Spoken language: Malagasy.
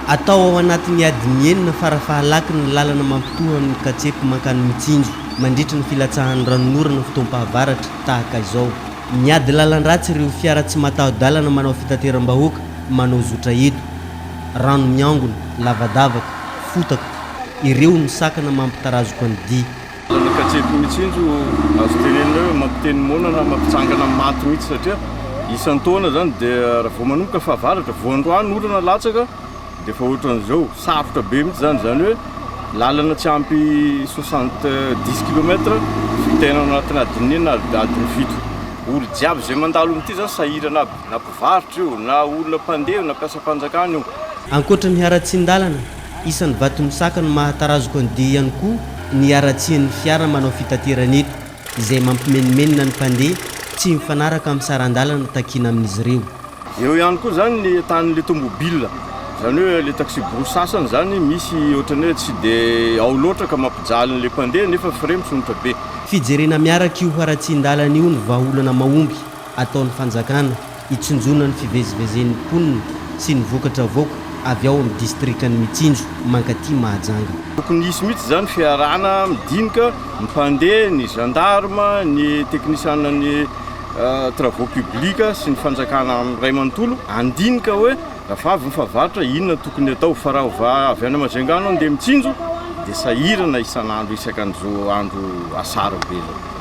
Atao ao anatin'ny adiny enina fara-fahalaky ny lalana mampitoha amin'ny Katsepy mankany Mitsinjo, mandritry ny filatsahan'ny ranonorana fotoam-pahavaratra tahaka izao. Miady lalan-dratsy ireo fiara tsy mataho-dalana manao fitateram-bahoaka manao zotra eto. Rano miangona, lavadavaka, fotaka, ireo no sakana mampitarazoka ny dia. Ny katseto mihitsy iny no azo tenenina hoe mampiteny moana na mampitsangana maty mihitsy satria isan-taona izany dia raha vao manomboka fahavaratra, vao androany orana latsaka dia efa ohatran'izao. Sarotra be mihitsy izany, izany hoe lalana tsy ampy soixante dix kilomètre vitaina ao anatin'ny adiny enina na adiny fito. Olo jiaby izay mandalo amin'ity izany sahirana aby, na mpivarotra io, na olona mpandeha, na mpiasam-panjakana io. Ankoatra ny haratsian-dalana Isan'ny vatomosaka no mahatarazoka ny dia ihany koa ny haratsian'ny fiara manao fitaterana eto, izay mampimenomenona ny mpandeha, tsy mifanaraka amin'ny saran-dalana takiana amin'izy ireo. Eo ihany koa izany ny entanin'ilay tomobil, izany hoe ilay taxi-brousse sasany izany misy ohatran'ny hoe tsy dia ao loatra ka mampijaly an'ilay mpandeha nefa frais misonotra be. Fijerena miaraka io haratsian-dalana io ny vahaolana mahomby ataon'ny fanjakana. Hitsinjona ny fivezivezen'ny mponina sy ny vokatra avoaka avy ao amin'ny distrikan'i Mitsinjo mankaty Mahajanga. Tokony hisy mihitsy izany fiarahana midinika, mpandeha, ny gendarme, ny teknisianan'ny travaux publics sy ny fanjakana iray manontolo handinika hoe rafa avy ny fahavaratra inona no tokony hatao fa raha ova avy any Majunga no handeha Mitsinjo dia sahirana isan'andro isaka an'izao andro asara be izao.